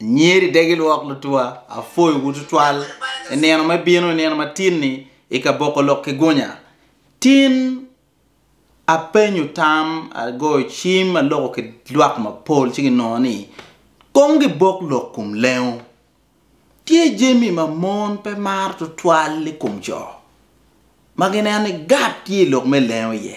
Anyeri de gilwok lutwa apwoyowu tutwal i nino ma bino, i nino matin-ni, i ka boko lok ki gunya. Tin apenyo tam, agoyo cim, aloko ki lwak mapol ci ginongo ni, Kong gibok lok kom lengo. Tye jami ma mon pe maro tutwal i kom co. ma gineno ni Gat tye i lok me lengo iye.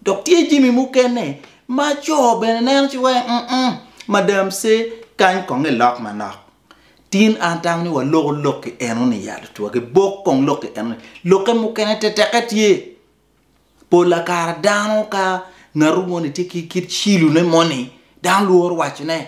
Dok tye jami mukene ma co bene neno ci wai, um-um, madam ce, kany kong ilok manok. Tin an atamo ni waloko lokki enoni yat otwagi, bok kong lokki enoni. Lokke mukene teteke tye. Pol la kare dano ka ngatu moni tye ki kit cilone moni, dano lworo wacone.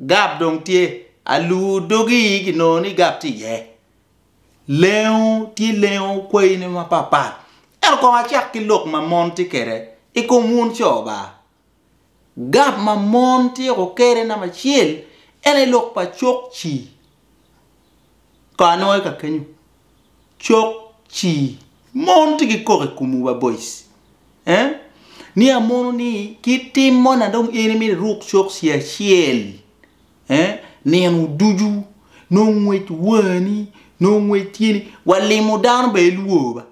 Gab dong tye, alur dogi kinongo ni gab tye iye. Lengo tye lengo kwayine mapat pat. Ento kong acak ki lok ma mon tye kwede i kom wun co ba. Gab ma mon tyeko kede namba acel en aye lok pa cokci. Ka anongo eka kenyo cok ci mon tye ki koko i komwu ba boys eh ni amono ni ki tim mo na dong in imito iruk cok ci acel eh nino ducu nongo ngwec wani nongo ngwec tyeni wa limo dano bene ilwor ba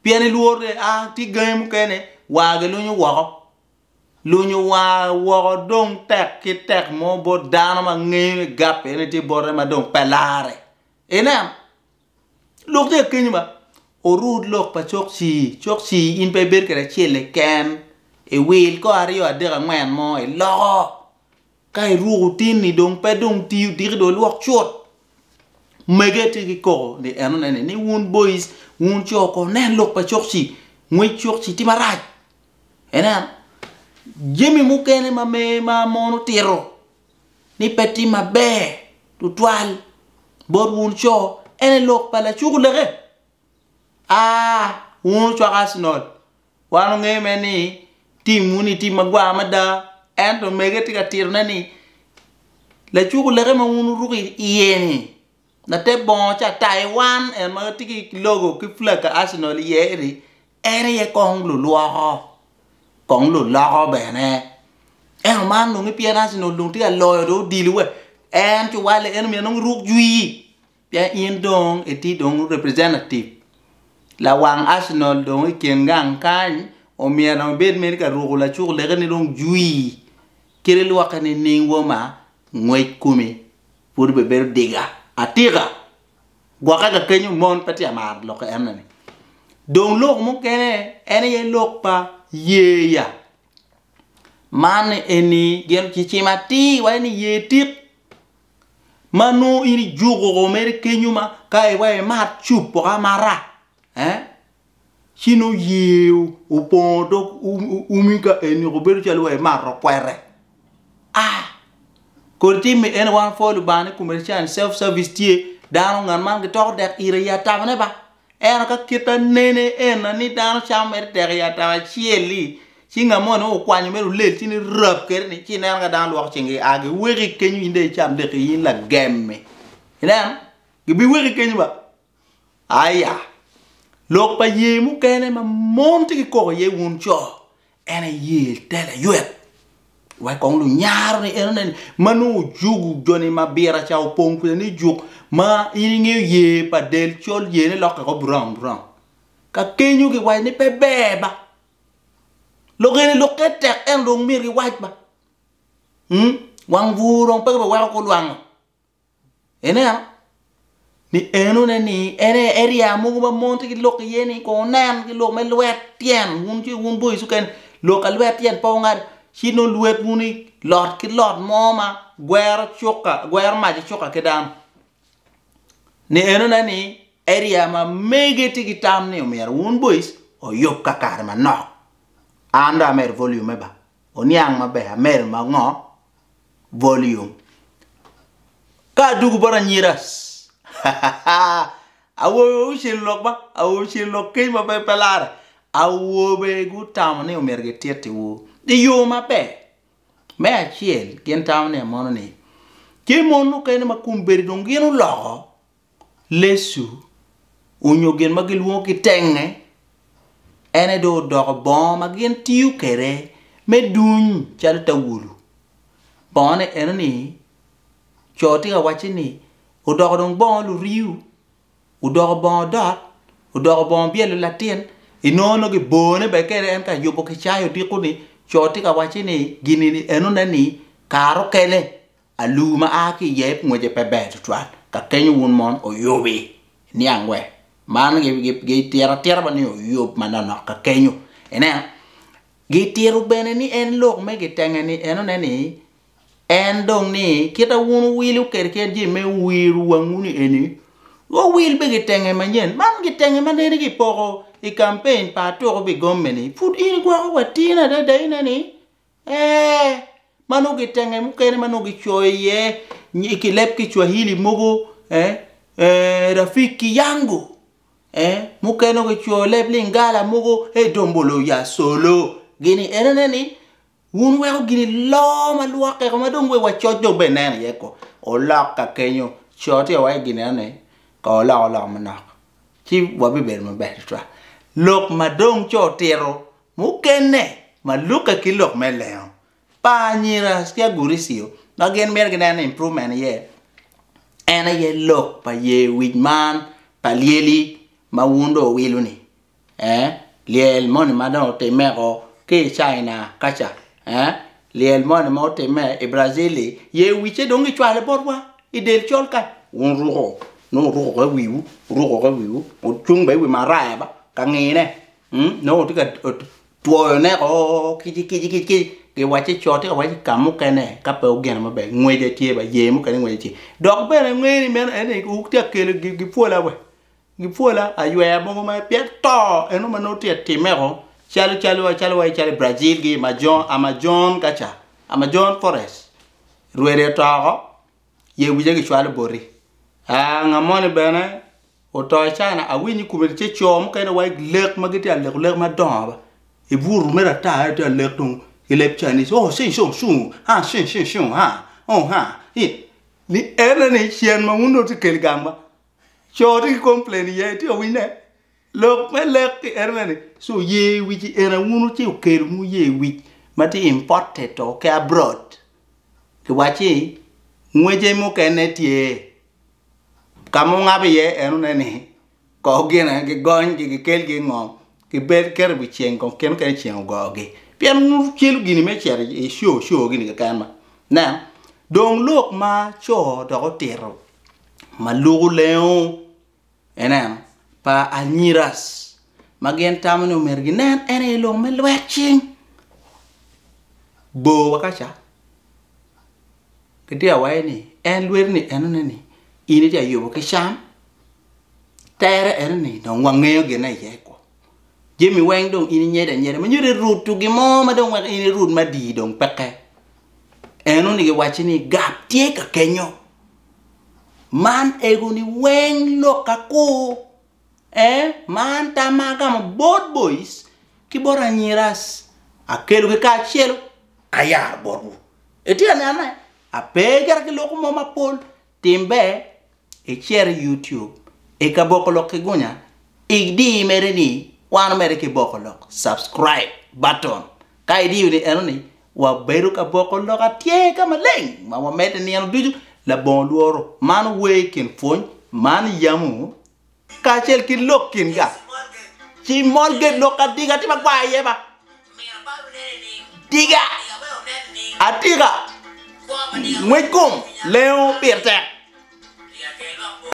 pien ilwor ni a tye gangi mukene war gilunyo woko Lunyo war woko dong tek ki tek mo bot dano ma ngeyo ni gap eni tye bote ma dong pe larre. Ineno? Lok tye akenyo ba. Orut lok pa cok cii, cok cii in pe ibedo kwede acel keken, iwil ko aryo adek angwen mo iloko. Ka iruko tinni dong pe dong ti odiki dong ilwok cut. Mege tye ki koko ni en onene ni wun boys wun co ko nen lok pa cokci, ngwec cokci tye marac. Ineno jami mukene ma me ma mon otito ni pe tye maber tutwal bot wun co ene lok pa lacuku leke. Aa wun ocwaka Arsenal Wan ongeyo mere ni timwu-ni tim magwar mada. Ento omege tye ka titone ni, Lacuku leke ma wun wuruko iye-ni, later bongo ca Taiwan, en ma tye ki logo ki flag pa Arsenal iye-ni, en aye kong lulwoko, kong luloko bene. Ento man dong ki pien Arsenal dong tye ka loyo dong odilo-wa, en cuwalle, en omyero dong iruk jwii. Pien in dong itye dong representative lawang Arsenal dong i kin gang kany omyero dong ibed mere ka ruko lacuk leke ni dong jwii kit ilwokke nining wa ma ngwec kumi pud be bedo diga atika gwokke ka kenyo mon pe tye ka maro lok enne ni dong lok mukene en aye lok pa yeya man eni gin kicimo atir wai ni yer tik ma nongo in ijuko ko mere kenyo ma ka iwaco imat cup poko amata ci nongo yer opongo dog umi ka eni ko bedo calo wa imato kwete aa kodi timme ene wan wapwoyo Lubanga ni commercial and self service tye dano ngat man gitoko dek ite i atamane ba. Ento ka kit ma nene eni ni dano camo mere tek i ataka acel-li, ci ngat mo nongo okwanyo mere olel ci nongo rab kwede-ni ci ineno ka dano lwoko cingi gia giweko i kenyo in dong icam deki in lagem-mi. Ineno? Gibiweko i kenyo ba. Aya! Lok pa ye mukene ma mon tye ki koko iye wun co, En aye te laywek. Wek kong lunyaro ni en oneni ma nongo ojugu joni ma bira ca opong kwede ni juk ma in ingeyo ye pa del col ye ne lokke ko brown brown. Ka kenyo gi wac ni pe ber ba. Lok eni lok ke tek en dong myero gi wac ba. Hmm? Wang bur dong pe ki be weko ko lwango. Ineno? Ni en one ni en aye area mogo ma mon tye ki lok iye ni kong wunen ki lok me lwet tyen wun ci wun boyi cukene lok ka lwet tyen pe wungado ci nongo lwet wun i lot ki lot mo ma gwero cuka gwero mac icuka ki dano. Ni en one ni area ma mege tye ki tam ni omyero wun boys oyub kakare manok. An dong amedo volume me ba. oniang maber amedo ma ngo volume ka adwogo bot anyira hahahaa awobe wa gucel lok ba awobe ocel lok keny ma pe larre awobe gutamo ni myero gititi wu i yo maber me acel gin tamo ni amono ni tye mon mukene ma kombeddi dong gin oloko Lesu onyo gin ma gilwongo ki tenge, ene dong odoko bongo ma gin tiyo kede me duny calo tawulu. Bongone eno ni co tye ka wacci ni odoko dong bongo luriu, odoko bongo dot, odoko bongo byelo latin, inongo nongo gibone bene kede en ka yubo ki cayo odiko ni co tye ka wacci ni gini enone ni kare okene. Alu ma a ki i yep ngwece pe ber tutwal. Ka kenyo wun mon oyubi, niang we. Man gi tiro atira ba ni oyub manonok ka kenyo. Ineno? Gi tiro bene ni en lok me gi tenge ni en one ni en dong ni kita wun wuwilo kede kit je me wiro wangwu ni eni, go wil be gi tenge manyen. Man gi tenge ma nene gi poko i campaign pa atuku bi gomme ni pud in igwoko watine adada ine ni Ee, ma nongo kitenge mukene ma nongo kicoyo iye i ki leb Kicwahili mogo, ee, ee, Rafiki Yangu, ee, mukene nongo kicoyo leb Lingala mogo, ee, Dombolo ya Solo, gini enene ni, wun weko gini loo ma lwokke ko ma dong wek wacoc dong bene neno iye ko, olok ka kenyo, cot iye wa i gin enoni, ka oloko lok manok, ci wabibedo maber tutwal. Lok ma dong ci otito Mukene ma lukke ki lok me lengo pa anyira ki Aguricio ma gin mito gineno improvement iye en aye lok pa ye wic man pa lyeli ma wun dong wuwilo ni eh lyel moni ma dong otime ko ki i China kaca eh lyel moni ma otime i Brazil li ye wice dong gicwale botwa i del col ka wun ruko nongo wuruko ka i wiwu wuruko ka i wiwu wucung bene i wi maraya ba ka ngine. Nongo otye ka twoyo neko kic kic kic kic giwacce co tye ka waco i kamukene ka pe ogeno maber ngwece tye ba yer mukene ngwece tye dok bene angeyo ni meno en aye tye ka kelo gipwola wa gipwola aywer mogo ma pien to eno ma nongo tye ka timeo calo calo calo wa calo Brazil gi Amazon kaca Amazon forest rwede oto oko. ye wica gicwalo boti. Aa, nga moni bene oto i China, awinyo i kome ce co mukene wa lek ma gitye ka leko lek madongo ba. I butu mere ata aye tye ka lek tung i leb Chinese, oh shing shung shung, ha shing shing shung ha, oh ha, hi. Ni ene ni cen ma wun dong wutye ka kelo gang ba. Co tye ki complain iye, itye ka winyo ne? Lok me lek ki eno mene, ci oye wic i ena wunu ci okelo mu ye wic ma tye imported o ki abroad ki wacci ngwece mukene tye ka ma ongabo iye eno ne ni kor gine gi gony gi gi kel gi i ngom ki bed keto i wi ceng kong kene kene ceng ogoo gi pien wu celu gini me cito i show show gini keken ma nen dong lok ma co dok otito ma luku lengo. Ineno, pa anyiras, ma gin tamo ni omyero ginen en aye i lok me lwet cing. Bor wa kaca, gitye ka waye ni, en lweti ni enone ni in itye ka yubo ki cam, tere enoni dong wangeyo gin aye kwo. jami weng dong in inyedo anyeda ma nyodo irutu gin mo ma dong weko in irut madii dong peke. En onongo giwacci ni gap tye ka kenyo. Man ego ni weng lok akur eh man tam ma agamo bot boys ki bot anyiras akelo gi kacelu ayaro botwu. Itye ka nene ape kit ki loko mo mapol Tim ber icer i YouTube i ka boko lok ki gunya idi mere ni wano mere ki boko lok subscribe button ka idiyo ni eno ni wa bedo ka boko lok atye ka maleng ma wa mede nino ducu labongo lworo man wer ikin pwony man yamu kacel ki lok kinga, ci molge lok adiga ati ma gwa aye ba diga atika ngwec kom lengo pire tek.